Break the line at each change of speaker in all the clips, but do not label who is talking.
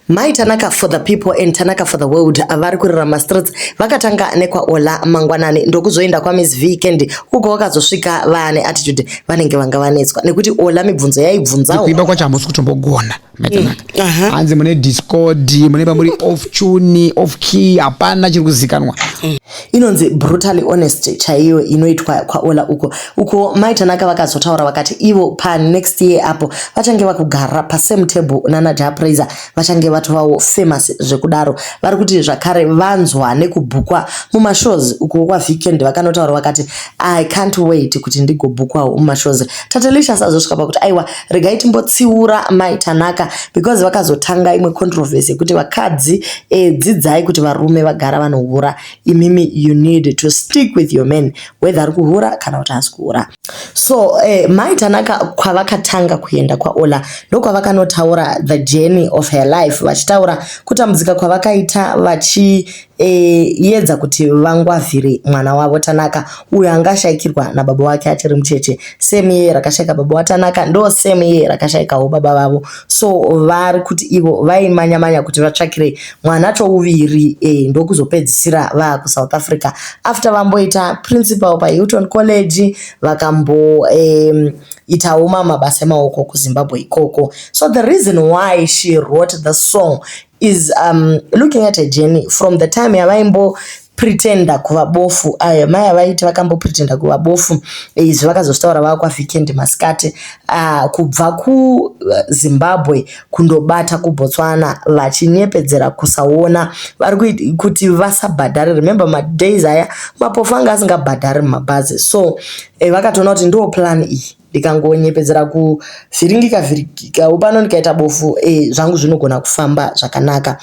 Mai Tanaka for the people and Tanaka for the world vari kurarama streets vakatanga nekwaOla mangwanani ndokuzoenda kwaMiss V Candy uko vakazosvika vaane attitude vanenge vanga vanetswa nekuti Ola mibvunzo yaibvunzawo kuimba kwacho hamusi
kutombogona Mai mm, Tanaka mm. uh -huh. hanzi mune discord mune pamuri off tune off key hapana chiri kuzikanwa mm. inonzi
brutally honest chaiyo inoitwa kwaola uko uko mai tanaka vakazotaura vakati ivo panext year apo vachange vakugara pasame table nana japraiser vachange vatovawo famous zvekudaro vari kuti zvakare vanzwa nekubhukwa mumashows uko kwavikend vakanotaura vakati i can't wait kuti ndigobhukwawo mumashows tatelisha sazosvika pakuti aiwa regai timbotsiura mai tanaka because vakazotanga imwe controversy yekuti vakadzi eh, dzidzai kuti varume vagara vanohura imimi you need to stick with your man whether ari kuhura kana kuti haasi kuhura so eh, mai tanaka kwavakatanga kuenda kwaola ndokwavakanotaura the journey of her life vachitaura kutambudzika kwavakaita vachi E, yedza kuti vangwavhire mwana wavo Tanaka uyo anga ashaikirwa nababa wake achiri mucheche same year rakashaika baba waTanaka ndo same year rakashaikawo baba vavo so vari kuti ivo vaimanya manya kuti vatsvakire mwana chouviri e, ndokuzopedzisira vaa kuSouth Africa after vamboita principal paHilton College vakambo e, itawo mamabasa emaoko kuZimbabwe ikoko so the reason why she wrote the song is um, looking at a journey from the time yavaimbo pretenda kuva bofu ayo mai avaiti vakambo pretenda kuva bofu eh, izvi vakazozvitaura vava kwavikend masikati uh, kubva kuzimbabwe eh, kundobata kubotswana vachinyepedzera kusaona vari kuti vasabhadhare remember madays aya mapofu anga asingabhadhari mumabhazi so eh, vakatoona kuti ndo plan iyi ndikangonyepedzera kuvhiringika vhiringikawo pano ndikaita bofu eh, zvangu zvinogona kufamba zvakanaka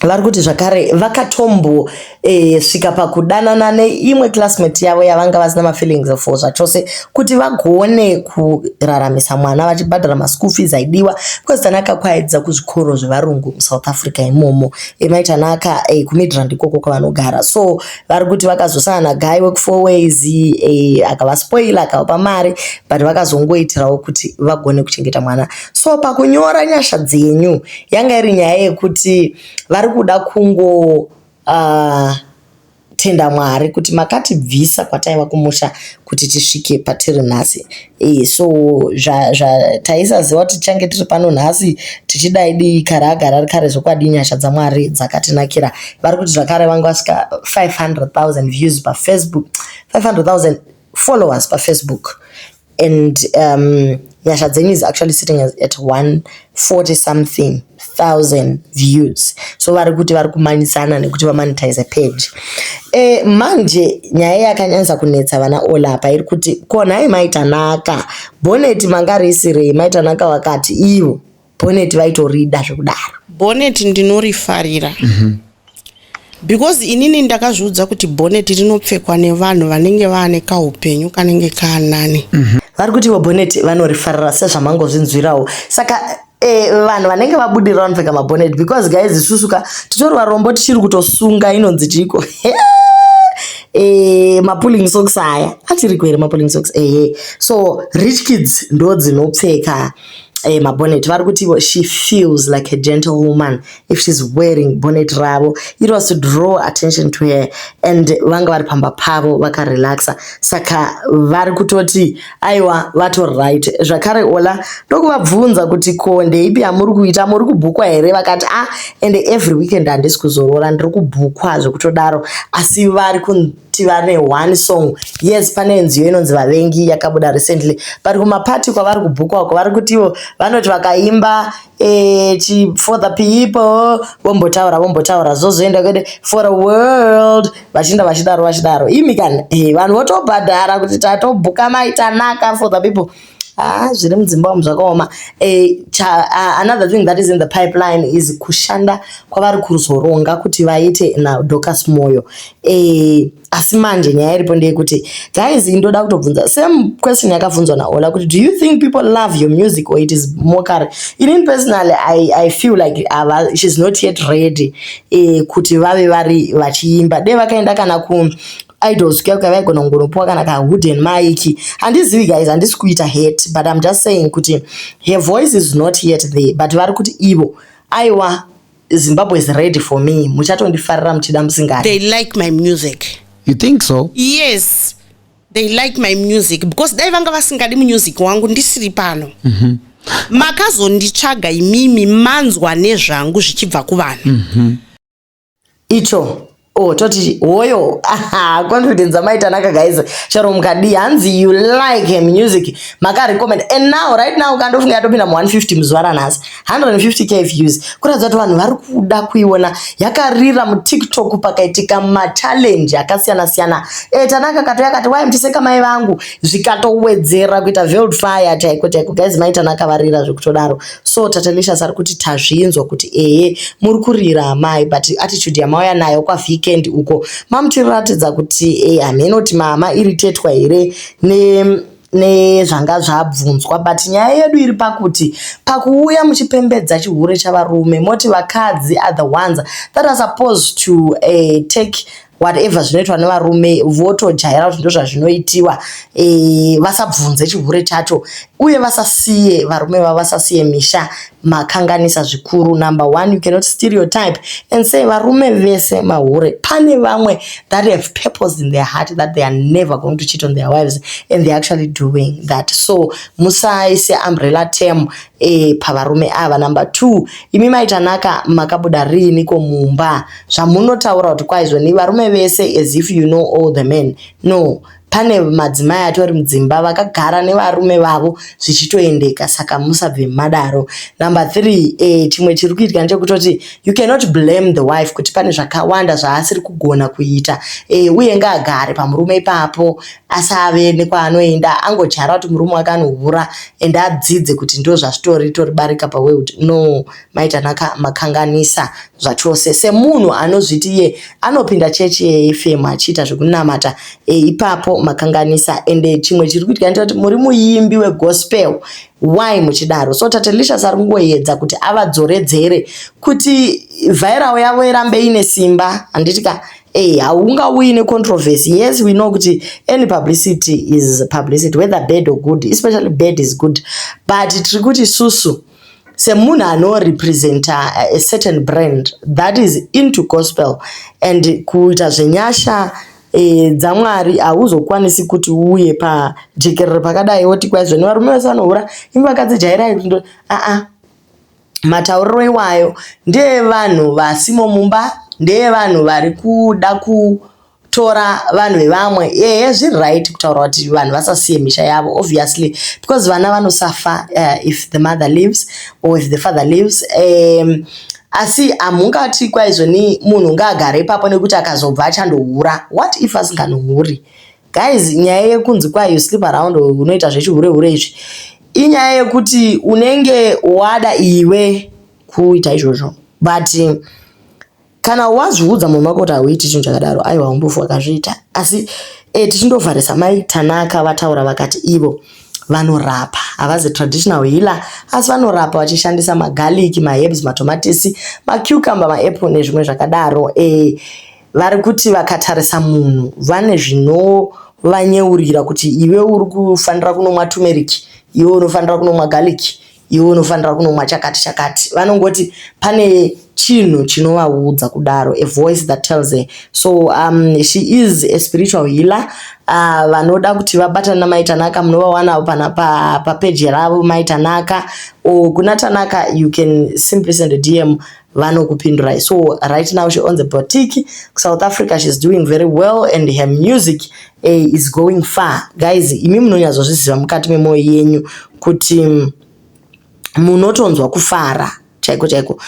vari kuti zvakare vakatombo eh, svika pakudanana neimwe classmate yavo yavanga vasina mafeelings for zvachose kuti vagone kuraramisa mwana vachibhadhara maschool fees aidiwa because tanaka kwaedza kuzvikoro zvevarungu musouth africa imomo eh, mai tanaka eh, kumidrand ikoko kwavanogara so vari kuti vakazosana nagai wekufour ways e, akavaspoila akavapa mari but vakazongoitirawo kuti vagone kuchengeta mwana so pakunyora nyasha dzenyu yanga iri nyaya yekuti vari kuda kungo uh, tenda mwari kuti makatibvisa kwataiva kumusha kuti tisvike patiri nhasi e, so zvataisaziva kuti tichange tiri pano nhasi tichidai dii kare agara ari kare zvokwadi nyasha dzamwari dzakatinakira vari kuti zvakare vange vasvika 500 000 views pafacebook 500 000 followers pafacebook and um, nyasha dzenyu is actually sitting at 140 something thousand views so vari kuti vari kumanyisana nekuti vamonetize page e, manje nyaya yakanyanyisa kunetsa vana ola apa iri kuti ko nhai maitanaka boneti manga risirei maitanaka wakati ivo boneti vaitorida zvekudaro boneti
ndinorifarira mm -hmm. because inini ndakazviudza kuti boneti rinopfekwa nevanhu vanenge vaane kaupenyu kanenge kaanani mm -hmm. vari kuti ivo
boneti vanorifarira sezvamangozvinzwirawo saka eh, vanhu vanenge vabudirira vanopfeka maboneti because guys isusu ka titori varombo tichiri kutosunga inonzi tiiko eh, mapulling socks aya achiriko here mapulling socks ehe so rich kids ndo dzinopfeka eh, mabonnet vari kuti ivo she feels like a gentle woman if she's wearing bonnet ravo it was to draw attention to her and vanga vari pamba pavo vakarelaxa saka vari kutoti aiwa vato right zvakare ola ndokuvabvunza kuti ko ndeipi yamuri kuita muri kubhukwa here vakati ah and every weekend handisi kuzorora ndiri kubhukwa zvekutodaro asi vari tiva ne one song yes pane nziyo inonzi vavengi yakabuda recently but kumapati kwavari kubhukwa uko vari kuti ivo vanoti vakaimba eh, chi for the people vombotaura vombotaura zvozoenda kwede for the world vachienda vachidaro vachidaro imi kana eh, vanhu votobhadhara kuti tatobhuka mai tanaka for the people Ah, zviri mudzimba umu zvakaoma eh, ah, another thing that is in the pipeline is kushanda kwavari kuzoronga kuti vaite nadocas moyo eh, asi manje nyaya iripo ndeyekuti guys ndoda kutobvunza same question yakabvunzwa naola kuti do you think people love your music or it is mockery inin personally I, i feel like uh, she's not yet ready eh, kuti vave vari vachiimba de vakaenda kana ku idols kuya kuya vaigona kungonopiwa kana ka wooden mike handizivi guys handisi kuita hate but im just saying kuti her voice is not yet there but vari kuti ivo aiwa zimbabwe is ready for me muchatondifarira muchida musingadi they like my music
you think so
yes
they like my music because dai vanga vasingadi music wangu ndisiri pano mm -hmm. makazonditsvaga imimi manzwa nezvangu zvichibva kuvanhu mm -hmm.
icho oh toti hoyo aha confidence amai tanaka guys chero mukadii hanzi you like her music makarecommend and now right now ukandofunga yatopinda mu 150 muzuva ranhasi 150k views kuratidza kuti vanhu vari kuda kuiona yakarira mutiktok pakaitika machallenge akasiyana siyana e, tanaka katouya kati wai mutiseka mai vangu zvikatowedzera kuita veld fire chaiko chaiko guys mai tanaka varira zvekutodaro so Tatelicious ari kuti tazvinzwa kuti ehe muri kurira amai but attitude yamauya nayo kwaVeekend uko mamutiratidza kuti eh, hameno kuti mama iritetwa here ne nezvanga zvabvunzwa but nyaya yedu iri pakuti pakuuya muchipembedza chihure chavarume moti vakadzi are the ones that are supposed to uh, take whatever zvinoitwa nevarume votojaira kuti ndozvazvinoitiwa e, eh, vasabvunze chihure chacho uye vasasiye varume vavo vasasiye misha makanganisa zvikuru number one you cannot stereotype and say varume vese mahure pane vamwe that have purpose in their heart that they are never going to cheat on their wives and they're actually doing that so musaise umbrella term Eh, pavarume ava number two imi maitanaka makabuda riini ko mumba zvamunotaura kuti kwaizoni varume vese as if you know all the men no pane madzimai atori mudzimba vakagara nevarume vavo zvichitoendeka saka musabve madaro number three eh, chimwe chiri kuitika ndechekutoti you cannot blame the wife kuti pane zvakawanda zvaasiri kugona kuita eh, uye ngaagare pamurume ipapo asave nekwaanoenda angodyara kuti murume wake anohura and adzidze kuti ndo zvazvitori ritori barika paworld no mai tanaka makanganisa zvachose semunhu anozviti iye anopinda chechi yefm achiita zvekunamata e, ipapo makanganisa and eh, chimwe chiri kuitika ndita kuti muri muimbi wegospel why muchidaro so tatelicious ari kungoedza kuti avadzoredzere kuti vhairawo yavo irambe ine simba handiti ka Hey, haungauyi necontroversy yes we know kuti any publicity is publicity whether bad or good especially bad is good but tiri kuti susu semunhu anorepresenta uh, a certain brand that is into gospel and kuita zvenyasha e, dzamwari hauzokwanisi kuti uye pajekerero pakadai woti kwaizvo nevarume vese vanohura imi vakadzi jairai aa ah, ah. Matauriro iwayo ndeevanhu vasimo mumba, ndeevanhu vari kuda kutora vanhu vevamwe. Ehe zviri right kutaura kuti vanhu vasasiye misha yavo obviously because vana vanosafa uh, if the mother lives or if the father lives um, asi hamungati kwaizvoni munhu ngaagare ipapo nekuti akazobva achandohura what if asinganohuri Guys, nyaya yekunzi kwa you sleep around unoita zvechihure hure izvi inyaya yekuti unenge wada iwe kuita izvozvo but kana wazviudza munhu wako kuti hauiti chinhu chakadaro aiwa umbofu wakazviita asi e, tichindovharisa mai tanaka vataura vakati ivo vanorapa havazi traditional healer asi vanorapa vachishandisa magaliki maherbs matomatisi macucumber maapple nezvimwe zvakadaro e, eh, vari kuti vakatarisa munhu vane zvinovanyeurira kuti iwe uri kufanira kunomwa turmeric iwe unofanira kunomwa garlic iwe unofanira kunomwa chakati chakati vanongoti pane chinhu chinovaudza kudaro a voice that tells her so um, she is a spiritual healer uh, vanoda uh, kuti vabatane namai tanaka munovawana pana papeji pa ravo mai tanaka or kuna tanaka you can simply send a dm vanokupindurai so right now she owns a boutique kusouth africa she's doing very well and her music eh, is going far guys imi munonyatsozviziva mukati memwoyo yenyu kuti mm, munotonzwa kufara chaiko chaiko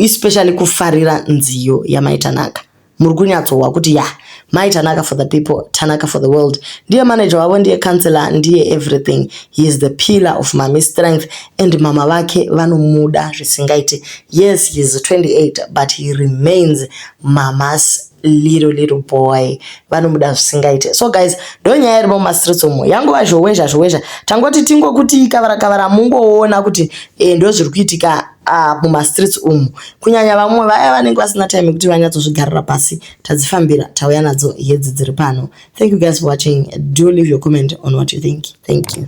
especially kufarira nziyo yamaitanaka Muri kunyatsohwa kuti yah mai Tanaka for the people, Tanaka for the world. Ndiye manager wavo, ndiye councillor, ndiye everything. He is the pillar of Mami's strength and mama vake vanomuda zvisingaite. Yes, he is 28 but he remains Mama's little little boy vanomuda zvisingaite so guys ndo nyaya irimo mumastreets umo yangova zhowezha zhowezha tangoti tingokuti kavara kavara mungoona kuti e, eh, ndo zviri kuitika uh, mumastreets umu kunyanya vamwe vaya vanenge vasina time yekuti vanyatsozvigarira pasi tadzifambira tauya nadzo hedzi dziri pano thank you guys for watching do leave your comment on what you think thank you